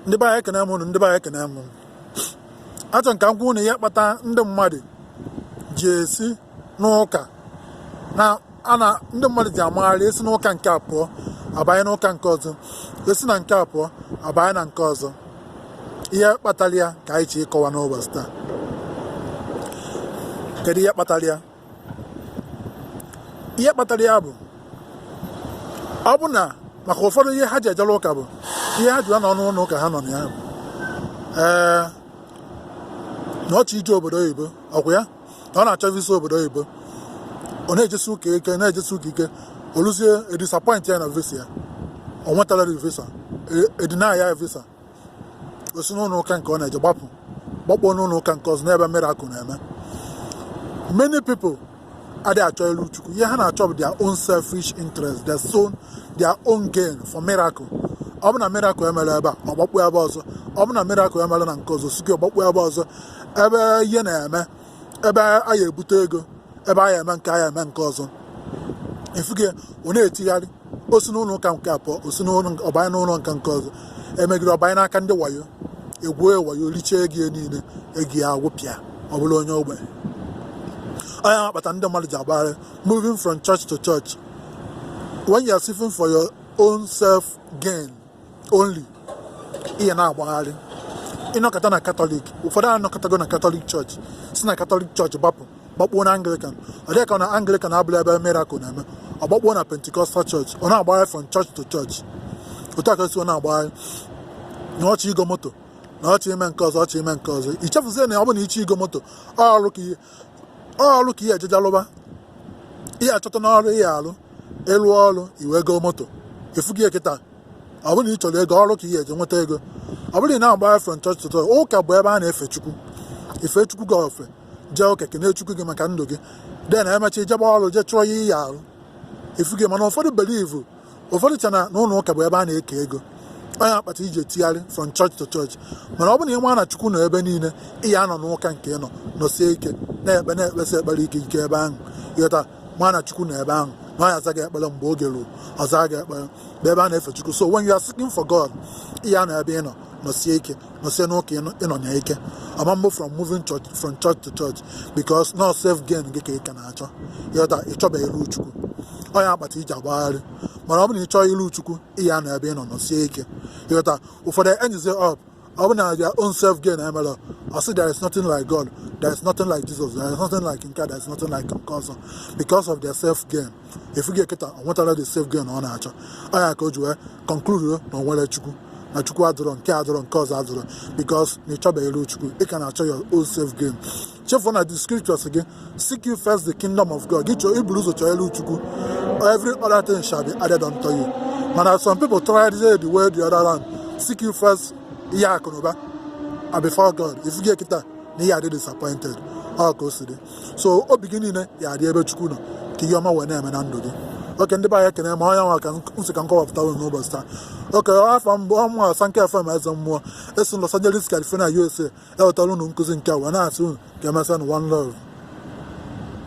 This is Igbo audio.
ndị be anyị ekene m unu ndị be anyị ekene m achọ m ka m gwa unu ihe kpata ndị mmadụ ji esi n'ụka na ana ndị mmadụ ji amagharị esi n'ụka nke a pụọ abanye n'ụka nke ọzọ esi na nke a pụọ abanye na nke ọzọ ihe kpatara ya ka anyị chọ ịkọwa n'ụbọchị taa kedu ihe kpatara ya ihe kpatara ya bụ ọ bụ na maka ụfọdụ ihe ha ji ejere ụka bụ ihe ha ji nọ n'ụlọ ụka ha nọ na ya bụ ee na ọ chọ ije obodo oyibo ọkwa ya na ọ na-achọ visa obodo oyibo ọ na-ejesi ụka ike na-ejesi ụka ike o luzie e disappoint ya na visa ya o nwetarọ visa e deny ya visa o si n'ụlọ ụka nke ọ na-eje gbapụ gbakpuo n'ụlọ ụka nke ọzọ n'ebe miracle na-eme many people adịghị achọ ilu chukwu ihe ha na-achọ bụ their own selfish interest their own their own gain for miracle ọ bụ na miracle emerọ ebe a ọ gbakpuo ebe ọzọ ọ bụ na miracle emerọ na nke ọzọ si gị ọ gbakpuo ebe ọzọ ebe ihe na-eme ebe a ya-ebute ego ebe a ya eme nke a ya eme nke ọzọ ị fụgo ya ọ na-etigharị o si n'ụlọ ụka nke a pụọ o si n'ụlọ nke- ọ banye n'ụlọ nke nke ọzọ e megide ọ banye n'aka ndị wayo e gwuo ya wayo richie ego ya niile ego ya agwụpịa ọ bụlụ onye ogbenye ọ nya kpata ndị mmadụ ji agbagharị moving from church to church when you are seeking for your own self gain only ị ya na-agbagharị ị nọkata na Catholic ụfọdụ anọkatago na Catholic church si na Catholic church gbapụ gbakpuo na Anglican ọ dị gị ka na Anglican abụrọ ebe miracle na-eme ọ gbakpuo na Pentecostal church ọ na-agbagharị from church to church otu a ka esi ọ na-agbagharị na ọ chọ igo moto na ọ chọ ime nke ọzọ ọ chọ ime nke ọzọ i chefuzie na ọ bụ na ị chọ igo moto ọ ọrụ ka ị ya ọrụ ka ị ya-eje je lụba ị ya-achọta ọrụ ị ya-alụ ị lụọ ọrụ i wee goo moto ị fụgo ya kịta ọ bụrụ na ị chọrọ ego ọrụ ka ị ya-eje nweta ego ọ bụrụ na ị na-agba from church to church ụka bụ ebe a na-efe chukwu i fee chukwu gị ofe jee ụka kene chukwu gị maka ndụ gị then e mechaa i jebe ọrụ jee chọọ ihe ị ya-alụ ị fụgo mana ụfọdụ believe ụfọdụ che na ụlọ ụka bụ ebe a na-eke ego ọ nya kpata i ji etigharị from church to church mana ọ bụ na ị ma na chukwu nọ ebe niile ị ya-anọ n'ụka nke ị nọ nọsie ike na-ekpe na-ekpesi ekpere ike ike ebe ahụ ị ghọta ma na chukwu nọ ebe ahụ na ọ ya-aza gị ekpere mgbe oge ruo ọ zaa gị ekpere bụ ebe a na-efe chukwu so when you are seeking for God ị ya-anọ ebe ị nọ nọsie ike nọsie n'ụka ị nọ na ya ike ọ ma-abụ from moving church from church to church because na ọ self gain gị ka ị ka na-achọ ịghọta ị chọbeghị iru chukwu ọ nya kpata i ji agbagharị mana ọ bụ na ị chọọ iru chukwu ị ya-anọ ebe ị nọ nọsie ike ịghọta ụfọdụ enyezie up ọ bụ na their own self gain emerọ ọ sị there is nothing like God there is nothing like Jesus there is nothing like nke a there is nothing like nke ọzọ because of their self gain ị fụgo ya kịta o nwetarọ the self gain ọ na-achọ ọ nya ka o ji wee conclude na o nwerọ chukwu na chukwu adọrọ nke a adọrọ nke ọzọ adọrọ because na ịchọbeghị iru chukwu ị ka na-achọ your own self gain chefuo na the scripture sị gị seek you first the kingdom of god gị chọọ i buru ụzọ chọọ iru chukwu every other thing shall be added unto you mana some people try the way the other round seek you first ihe akụnụba and before god ị fụgo kita na ị ya-adị disappointed ọ ka o si dị so obi gị niile ya adị ebe chukwu nọ ka ihe ọma wee na-eme na ndụ gị okay ndị be anyị ekene m ọ ya nwa ka m sị ka m kọwapụtara unu n'ụbọchị taa okay afa m bụ ọ mụa Sankofa ma eze mmụọ esi Los Angeles California USA ewetara unu nkụzi nke a wee na-asị unu ka emesịanụ one love